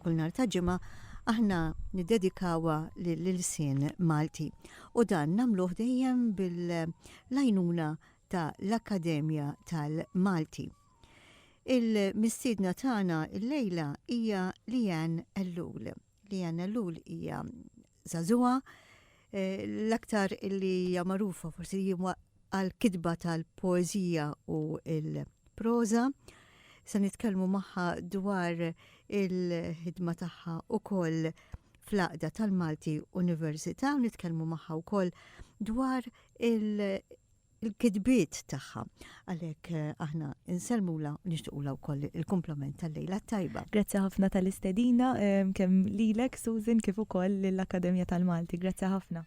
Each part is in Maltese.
Kull nhar ta' Ġimgħa aħna niddedikawha lill-ilsien Malti u dan nagħmluh dejjem bil-għajnuna ta' l-Akkademja tal-Malti. Il-mistiedna tagħna llejla hija Leanne Ellul. Leanne Ellul hija żagħżugħa, l-aktar li hija magħrufa forsi hija għall-kitba tal-poeżija u l-proża. Se nitkellmu magħha dwar il-ħidma tagħha ukoll fl-għaqda tal-Malti Università u nitkellmu magħha wkoll dwar il- il-kitbiet tagħha. Għalhekk eh, aħna insellmula nixtiequla wkoll il-komplement tal-lejla tajba. Grazzi ħafna tal-istedina eh, kemm lilek Susan kif ukoll lill-Akkademja tal-Malti. Grazzi ħafna.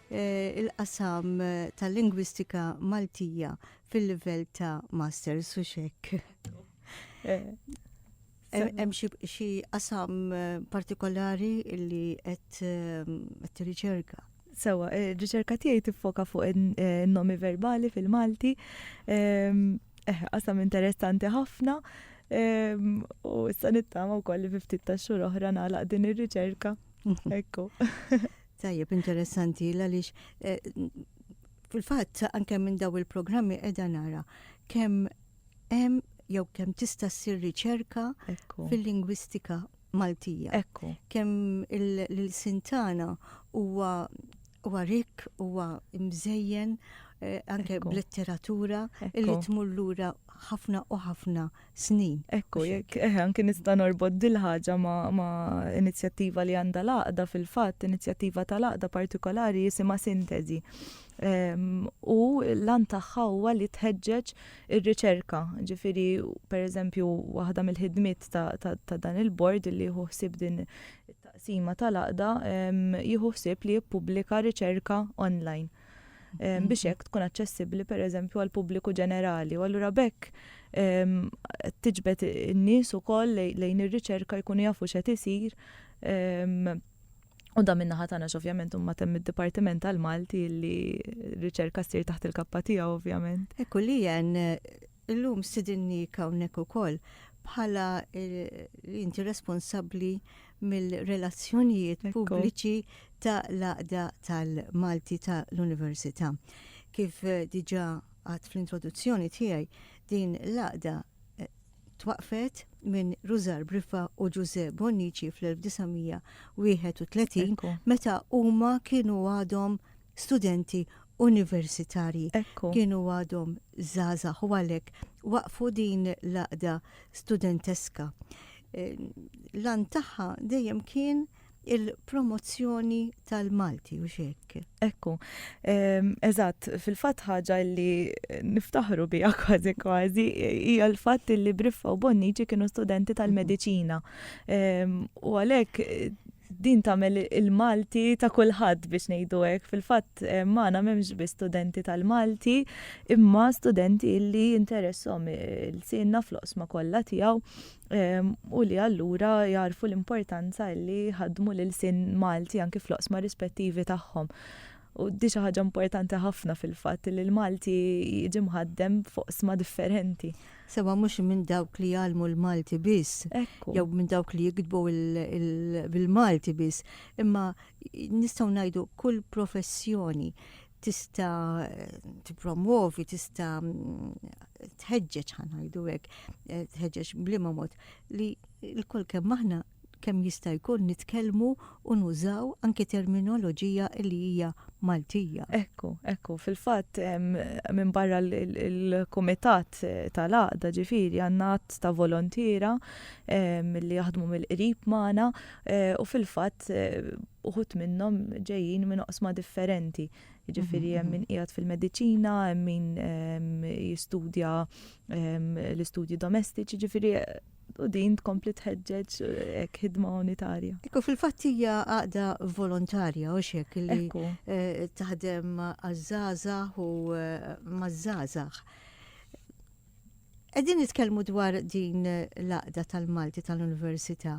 il-qasam tal-lingwistika Maltija fil-livell ta' masters u xek. Hemm xi qasam eh, partikolari li qed eh, tirriċerka? Sewa, eh, riċerka tiegħi tiffoka fuq in-nomi verbali fil-Malti. Ehm, eh, qasam interessanti ħafna. Ehm, u issa nittama wkoll li ftit ta' xhur oħra nagħlaq din ir-riċerka. Ekku. Tajjeb, interessanti, għaliex eh, fil-fatt anke minn daw il-programmi qiegħda nara kemm hemm jew kemm tista' ssir riċerka fil-lingwistika Maltija. Ekku. Kemm il-sintana huwa huwa rik, huwa mżejjen eh, anke b'letteratura li tmur lura ħafna u ħafna snin. Ekku, jekk eh, anki nista' norbot dil-ħaġa ma' inizjattiva li għandha l-għaqda fil-fatt, inizjattiva tal-għaqda partikolari jisimha Sintesi. Ehm, u l-an tagħha huwa li tħeġġeġ ir-riċerka. Ġifieri, pereżempju, waħda mill-ħidmiet ta' dan il-bord li jieħu ħsieb din it-taqsima tal-għaqda ehm, jieħu ħsieb li jippubblika riċerka online. Ehm, biex hekk tkun aċċessibbli pereżempju għal pubbliku ġenerali. U allura bekk ehm, tiġbed in-nies ukoll lejn ir-riċerka jkunu jafu x'qed isir. Ehm, u da minna ħatana ovvjament umma temm id-Dipartiment tal-Malti li riċerka ssir taħt il-kappa tiegħu ovvjament. Ekku li jen Illum stidinniek hawnhekk ukoll bħala li inti responsabbli mill-relazzjonijiet pubbliċi ta' l-Għaqda tal-Malti ta' l-Università. Kif diġà għedt fl-introduzzjoni tiegħi, din l-għaqda twaqqfet minn Rużar Briffa u Ġużè Bonnici fl-1931 meta huma kienu għadhom studenti universitarji. Kienu għadhom żgħażagħ u għalhekk waqfu din l-għaqda studenteska. L-għan tagħha dejjem kien il-promozzjoni tal-Malti u xek. Ekku, ehm, eżatt, fil-fat ħaġa li niftaħru bija kważi kważi, hija l-fat li Briffa u Bonnici kienu studenti tal-medicina. Ehm, u għalek Din tagħmel il-Malti ta' kulħadd biex ngħidu hekk. Fil-fatt magħna m'hemmx biss studenti tal-Malti, imma studenti li jinteresshom ilsienna fl-oqsma kollha tiegħu u li allura jagħrfu l-importanza li jħaddmu l-ilsien Malti anki fl-oqsma rispettivi tagħhom. u di xi ħaġa importanti ħafna fil-fatt li l-Malti jiġi mħaddem f'oqsma differenti. Sewa mhux minn dawk li jgħallmu l-Malti biss, jew minn dawk li jikdbu bil-Malti biss, imma nistgħu ngħidu kull professjoni tista' tippromwovi, tista' tħeġġeġ ħanajdu hekk, tħeġġeġ bliema mod li l-kol kemm aħna kemm jista' jkun nitkellmu u nużaw anki terminoloġija li hija Maltija. Hekk hu, hekk hu. Fil-fatt, minbarra l-kumitat tal-għaqda, ġifieri, għandna għadd ta' volontiera li jaħdmu mill-qrib magħna u fil-fatt uħud minnhom ġejjin minn oqsma differenti. Ġifieri hemm min qiegħed fil-mediċina, hemm min jistudja l-istudji domestiċi, ġifieri u din tkompli tħeġġeġ hekk eh, ħidma unitarja. Ekku fil-fatt hija għaqda volontarja u xek li eh, taħdem għaż-żgħażagħ u eh, maż-żgħażagħ. Qegħdin nitkellmu dwar din l-għaqda tal-Malti tal-Università.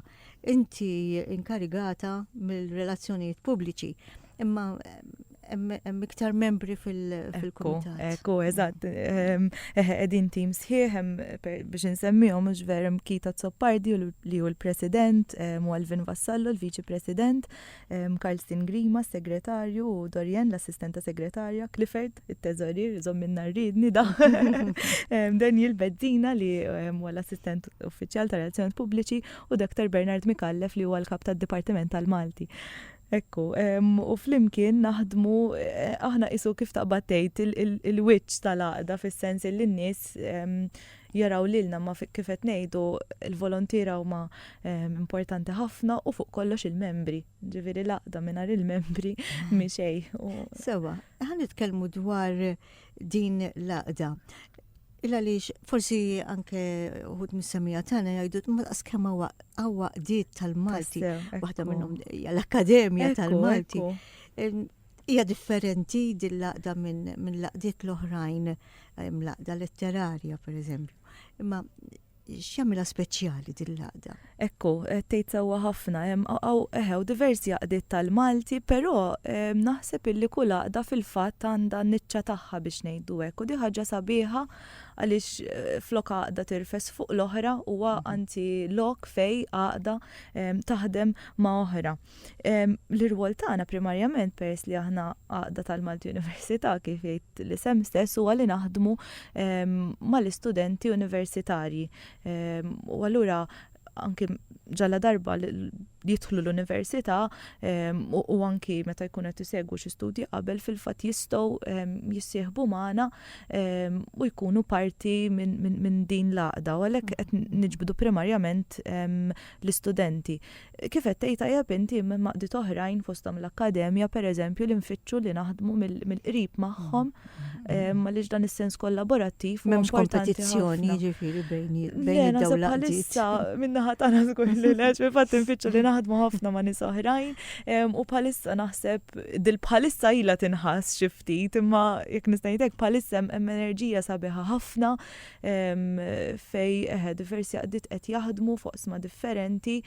Inti inkarigata mill-relazzjonijiet pubbliċi. Imma hemm iktar membri fil-kumitat. Ekku, eżatt. Qegħdin tim sħiħ biex insemmihom mhux ver hemm Kita Zoppardi li hu l-President, Alvin Vassallo l-Viċi President, Karlstin Grima segretarju u Dorian l-Assistenta Segretarja, Clifford it-Teżorir żommilna rridni da. Daniel Bezzina li huwa l-Assistent Uffiċjal ta' Relazzjonijiet Pubbliċi u Dr. Bernard Mikallef li huwa l-Kap tad-Dipartiment tal-Malti. Ekku, u flimkien naħdmu, aħna qisu kif taqbad tgħid, il-wiċċ tal-għaqda fis-sens illi n-nies jaraw lilna imma kif qed ngħidu l-volontiera huma importanti ħafna u fuq kollox il-membri. Ġifieri l-għaqda mingħajr il-membri mhi xejn. Sewwa, ħa nitkellmu dwar din l-għaqda. Illa għaliex forsi anke uħud mis-semija tagħna jgħidu ma daqs kemm hawa qdiet tal-Malti, waħda minnhom hija l-Akkademja tal-Malti. Hija differenti din laqda minn laqdiet l-oħrajn, laqda letterarja pereżempju. Imma X'jagħmilha speċjali din l-għaqda? Ekku, qed tgħid sewwa ħafna. Hemm eħe, diversi għaqdiet tal-Malti, però naħseb illi kull għaqda fil-fatt għandha n-niċċa tagħha biex ngħidu hekk. U di ħaġa sabiħa għaliex eh, flok għaqda tirfes fuq l-oħra huwa mhm. anzi lok fej għaqda taħdem ma' oħra. L-irwol tagħna primarjament peress li aħna għaqda tal-Malti Università kif jgħid l-isem stess huwa li naħdmu mal-istudenti universitarji. U allura anki ġalla darba jidħlu l-università u anki meta jkun qed isegwu xi studji qabel fil-fatt jistgħu jissieħbu magħna u jkunu parti minn din l-għaqda u għalhekk qed niġbdu primarjament l-istudenti. Kif qed tgħid tajjeb inti, hemm għaqdiet oħrajn fosthom l-Akkademja, pereżempju, li nfittxu li naħdmu mill-qrib magħhom għaliex dan is-sens kollaborattiv. M'hemmx kompetizzjoni jiġifieri bejn id-dawl għaqdiet. Min-naħa tagħna żgur li leġ, fil-fatt infittxu li naħdmu ħafna ma' nies oħrajn u bħalissa naħseb dil bħalissa ilha tinħass xi ftit imma jekk nista' ngħidlek bħalissa hemm enerġija sabiħa ħafna fejn eħe diversi għaddit qed jaħdmu f'oqsma differenti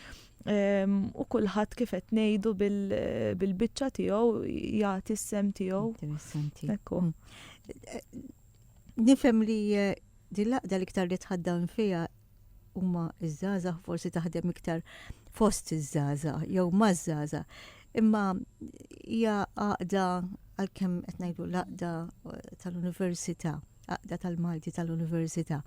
u kulħadd kif qed ngħidu bil-biċċa tiegħu jagħti s-sem tiegħu. Interessanti. Ekku. Mm. Nifhem li eh, dil-laqda l-iktar li tħaddan fija huma iż-żaza forsi taħdem iktar fost iż-żaza jew maż-żaza. Imma hija għaqda għalkemm qed ngħidu laqda eh, tal-università. Għaqda tal-Malti tal-Università.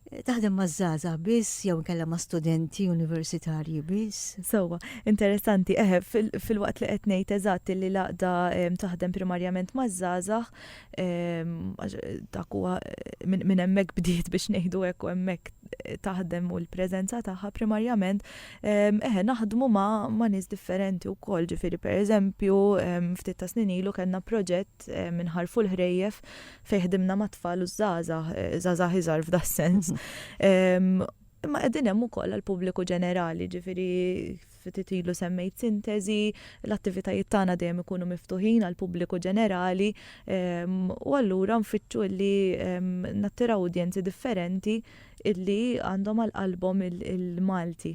Taħdem ma' żgħażagħ biss jew inkella ma' studenti universitarji biss? Sewwa, interessanti, eħe, fil-waqt li qed ngħid eżatt li l-għaqda ehm, taħdem primarjament ma' żgħażagħ, ehm, dak huwa minn hemmhekk bdiet biex ngħidu hekk u hemmhekk taħdem u l-preżenza tagħha primarjament, ehm, eħe, naħdmu ma' nies differenti wkoll, ġifieri pereżempju, ftit ta' snin ilu kellna proġett Eh, minħarfu l-ħrejjef fejn ħdimna ma' tfal u żgħażagħ, eh, żgħażagħ iżgħar f'da sens. Imma qegħdin hemm ukoll għall-pubbliku ġenerali, ġifieri ftit ilu semmejt sintesi, l-attivitajiet tagħna dejjem ikunu miftuħin għal pubbliku ġenerali ehm, u allura nfittxu li ehm, nattiraw udjenzi differenti illi għandhom għal qalbhom il-Malti.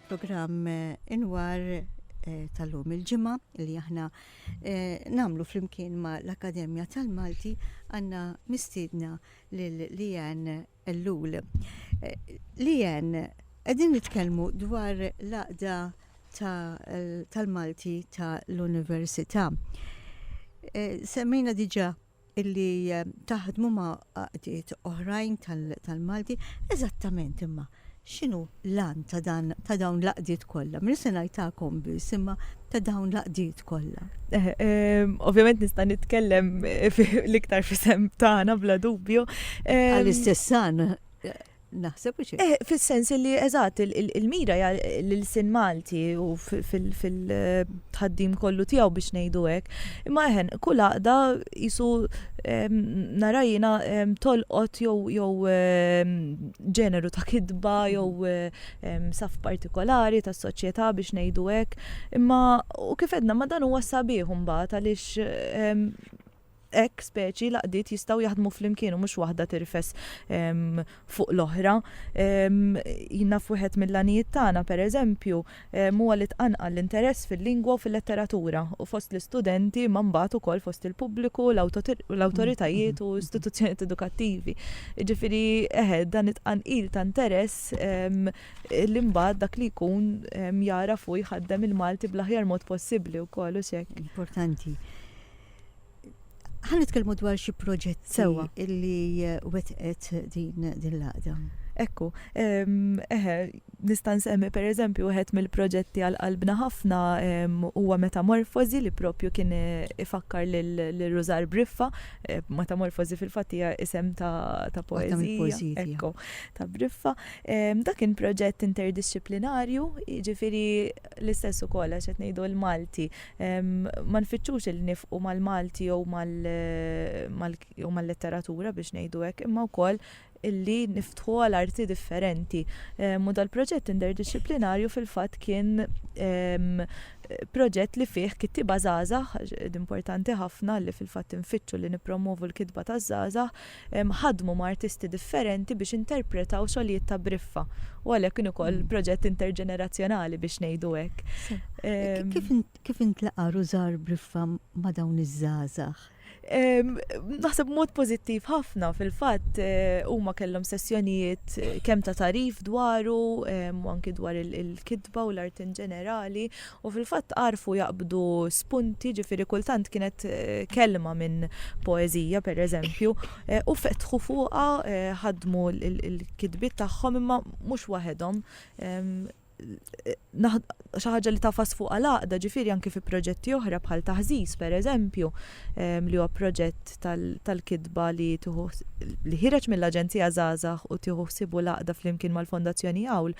Programm inwar tal-lum il-ġimgħa li aħna nagħmlu flimkien ma' l-Akkademja tal-Malti għandna mistiedna lil Lijan Ellul. Lijan, qegħdin nitkellmu dwar l-għaqda tal-Malti tal-Università. Semmejna diġà illi taħdmu ma' għaqdiet oħrajn tal-Malti, eżattament imma x'inhu l-għan ta' dan ta' dawn l-għaqdiet kollha? Minn se ngħid tagħkom biss imma ta' dawn l-għaqdiet kollha. Eh, eh, ovvjament nista' nitkellem eh, l-iktar fisem tagħna bla dubju. Għall-istess għan Naħseb u xi. Eh, fil-sens li eżatt il-mira hija l-sin Malti u fil-tħaddim kollu tiegħu biex ngħidu hekk. Imma eħen, kull għaqda jisu narajina tolqot jew ġeneru ta' kidba jew saf partikolari tas soċjetà biex ngħidu hekk. Imma u kif edna ma dan huwa sabiħ imbagħad għaliex Hekk, speċi, l-għaqdiet jistgħu jaħdmu flimkien u mhux waħda tirfes fuq l-oħra. Jien naf wieħed mill-għanijiet tagħna, pereżempju, huwa li tqanqal l-interess fil-lingwa u fil-letteratura u fost l-istudenti imma mbagħad ukoll fost il-pubbliku, l-awtoritajiet u istituzzjonijiet edukattivi. Jiġifieri, eħe, dan it-tqanqil ta' interess li mbagħad dak li jkun jagħraf u jħaddem il-Malti bl-aħjar mod possibbli wkoll, hux hekk? Importanti. Ħan nitkellmu dwar xi proġett sewa illi eh, wetqet din din l-għaqda. Ekku, ehm, eħe, nista' nsemmi per eżempju wieħed mill-proġetti għal qalbna ħafna ehm, huwa metamorfozi li propju kien eh, ifakkar lil Rużar Briffa, eh, metamorfozi fil-fatt hija isem ta', ta poezija, ekku, ta' Briffa. Ehm, dak kien proġett interdisciplinarju, jiġifieri l-istess ukoll għax qed ngħidu l-Malti, Ma nfittxux li nifqu mal-Malti jew mal-letteratura biex ngħidu hekk, imma wkoll illi niftħu għal arti differenti. U dal-proġett interdixxiplinarju fil-fatt kien proġett li fih kittieba żgħażagħ, importanti ħafna li fil-fatt infittxu li nippromovu l-kitba taż-żgħażagħ, ħadmu ma' artisti differenti biex interpretaw xogħlijiet ta' briffa u għalhekk kien ukoll mm. proġett interġenerazzjonali biex ngħidu hekk. Kif intlaqa' Rużar Briffa ma' dawn iż-żgħażagħ? Naħseb mod pożittiv ħafna fil-fatt eh, huma kellhom sessjonijiet eh, kemm ta' tarif dwaru u anki dwar il-kitba u l-art in ġenerali U fil-fatt għarfu jaqbdu spunti, ġifieri kultant kienet kelma minn poeżija pereżempju, u fetħu fuqha, ħaddmu l-kitbiet tagħhom imma mhux waħedhom. Xi ħaġa li tagħfas fuqha l-għaqda, ġifieri anki fi proġetti oħra bħal Taħżiż pereżempju, li huwa proġett tal-kitba li tieħu li ħireġ mill-Aġenzija Żgħażagħ u tieħu ħsiebu l-għaqda flimkien mal-Fondazzjoni Għawl,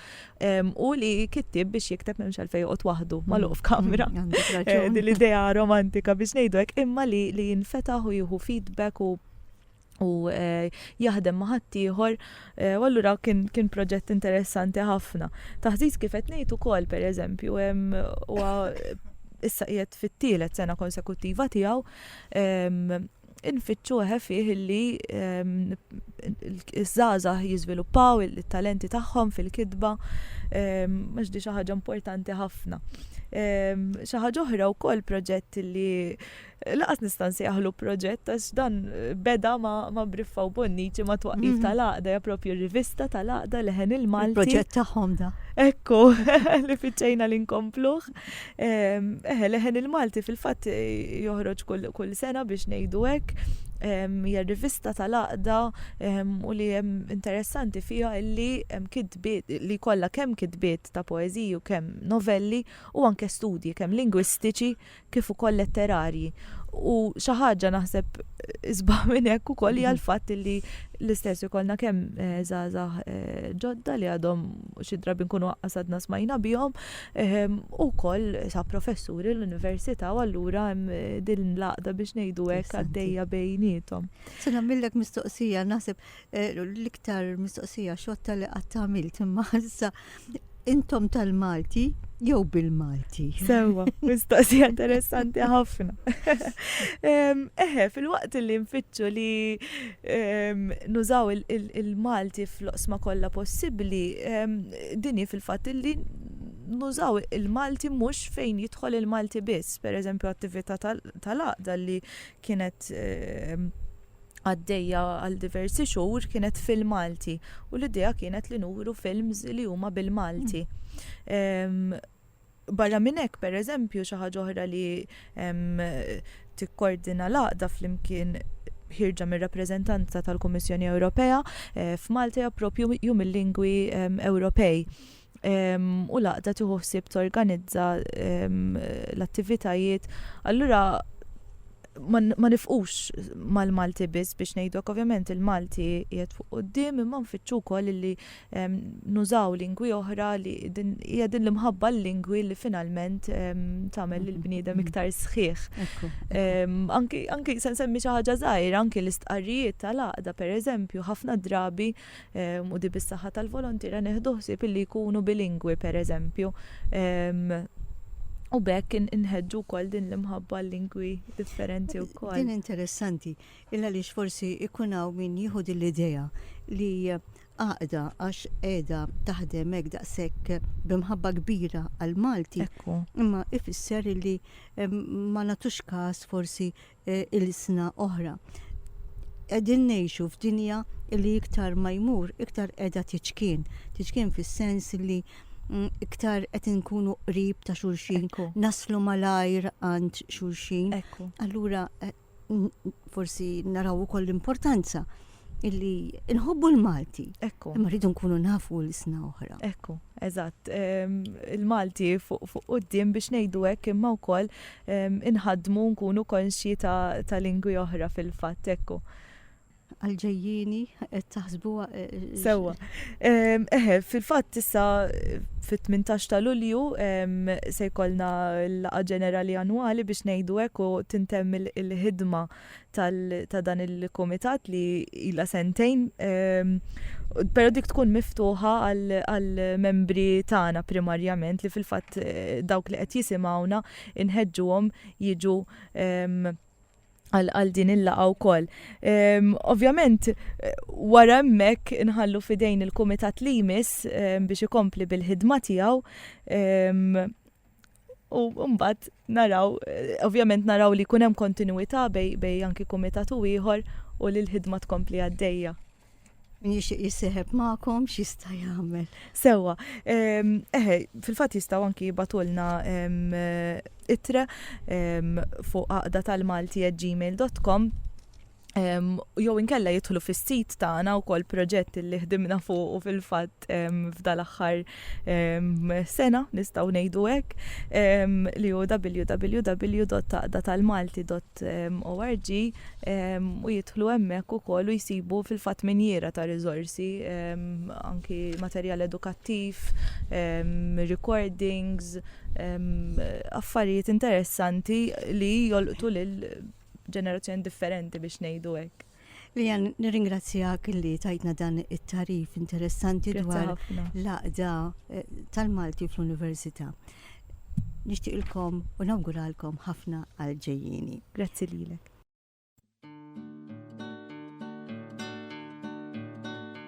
U li kittib biex jikteb memx għalfej joqgħod waħdu mm. magħluq f'kamra. Mm, eh, din l-idea romantika biex ngħidu hekk imma li li jinfetaħ u jieħu feedback u u eh, jaħdem maħat ieħor eh, u allura kien kien proġett interessanti ħafna. Taħżiż kif qed ngħid ukoll pereżempju hemm issa qiegħed fit-tielet sena konsekuttiva tiegħu infittxu eħe fih illi ehm, iż-żgħażagħ jiżviluppaw it-talenti tagħhom fil-kitba ehm, għax di xi ħaġa importanti ħafna. Ehm, xi ħaġa oħra wkoll proġett li laqas nista' nsejħlu proġett għax dan beda ma' Briffa u Bonnici ma' twaqif mhm. tal-għaqda ja propju rivista tal-għaqda leħen il-Malti. Proġett tagħhom da. Ekku, li fiċċejna li nkompluh. Eħe, leħen il-Malti fil-fatt eh, joħroġ kull sena biex ngħidu hekk hija rivista tal-għaqda u li hemm interessanti fiha li hemm kitbiet li kollha kemm kitbiet ta' poeżiji u kemm novelli u anke studji kemm lingwistiċi kif ukoll letterarji. U xi ħaġa naħseb isbaħ minn hekk ukoll hija l-fatt li l-istess ikollna kemm eh, żgħażagħ eh, ġodda li għadhom xi drabi nkunu għasadna smajna bihom Hu wkoll sab professuri l-università u allura hemm din l-għaqda biex ngħidu hekk għaddejja bejniethom. Se nagħmillek mistoqsija, naħseb eh, l-iktar mistoqsija xotta li qatt għamilt imma issa intom tal-Malti jew bil-Malti. Sewa, mistoqsija interessanti ħafna. Em, Eħe, fil-waqt li nfittxu li em, nużaw il- il- il-Malti fl-oqsma kollha possibbli, em, din hi fil-fatt illi nużaw il-Malti mhux fejn jidħol il-Malti biss, per eżempju attività tal-għaqda li kienet ehm, għaddejja għal diversi xhur kienet fil-Malti u l-idea kienet li nuru films li huma bil-Malti. Ehm, Barra minn hekk, pereżempju, xi ħaġa oħra li tikkordina l-għaqda flimkien ħirġa mir-rappreżentanza tal-Kummissjoni Ewropea f'Malta hija proprju Jum il-Lingwi Ewropej. U l-għaqda tieħu ħsieb torganizza l-attivitajiet. Allura ma nifqux mal-Malti biss biex ngħidlok, ovvjament il-Malti qiegħed fuq quddiem imma nfittxu wkoll li nużaw lingwi oħra li hija din l-imħabba l-lingwi li finalment tagħmel lil bniedem mm-hmm. iktar sħiħ. Anki se nsemmi xi ħaġa żgħira, anki l-istqarrijiet tal-għaqda pereżempju ħafna drabi u di bis-saħħa tal-volontira neħdu ħsieb illi jkunu bilingwi pereżempju. U bekk inħedġu kol din l-imħabba l-lingwi differenti u kol. Din interessanti, illa li forsi ikunaw min jihud l-ideja li Għaqda għax qiegħda taħdem hekk daqshekk b'imħabba kbira għall-Malti. Ekku. Imma ifisser illi ma nagħtux każ forsi e, ilsna oħra. Qegħdin ngħixu f'dinja illi iktar ma jmur, iktar qiegħda tiċkien. Tiċkien fis-sens illi mm, iktar qed inkunu qrib ta' xulxin, naslu malajr għand xulxin. Allura e, forsi naraw ukoll l-importanza illi nħobbu l-Malti. Ekku. Imma rridu nkunu nafu l-isna oħra. Ekku, eżatt. Ehm, Il-Malti fuq qoddim biex ngħidu hekk imma wkoll ehm, inħadmu nkunu konxji ta' lingwi oħra fil-fatt ekku. għal-ġejjini, qed taħsbuha. Sewwa. Eħe, fil-fatt issa fit-18 ta' Lulju se jkollna l-laqa ġenerali annwali biex ngħidu hekk u tintemm il-ħidma ta' dan il-kumitat li ila sentejn. Però dik tkun miftuħa għal-membri tagħna primarjament li fil-fatt eh, dawk li qed jisimgħuna inħeġġuhom jiġu għal din il-laqa wkoll. Ehm, ovvjament, wara hemmhekk inħallu fidejn il-kumitat li jmiss ehm, biex ikompli bil-ħidma tiegħu ehm, u mbagħad naraw, eh, ovvjament naraw li jkun hemm kontinwità bej anki kumitat u ieħor u li l-ħidma tkompli għaddejja. Min jixtieq jissieħeb magħkom x'jista' jagħmel? Sewwa, ehm, eħe, fil-fatt jistgħu anki jibatulna ehm, ittre ehm, fuq għaqda tal-Malti at gmail.com jew inkella jidħlu fis-sit tagħna wkoll proġett li ħdimna fuq u fil-fatt f'dal aħħar sena nistgħu ngħidu hekk li hu www.taqdatalmalti.com ORG u jidħlu hemmhekk ukoll u jsibu fil-fatt minjiera ta' riżorsi anki materjal edukattiv, recordings, affarijiet interessanti li jolqtu lil ġenerazzjoni differenti biex ngħidu hekk. Lijan, nirringrazzjak li tajtna dan it-tarif interessanti dwar l-għaqda eh, tal-Malti fl-Università. Nixtieqilkom u nawguralkom ħafna għal ġejjini. Grazzi lilek.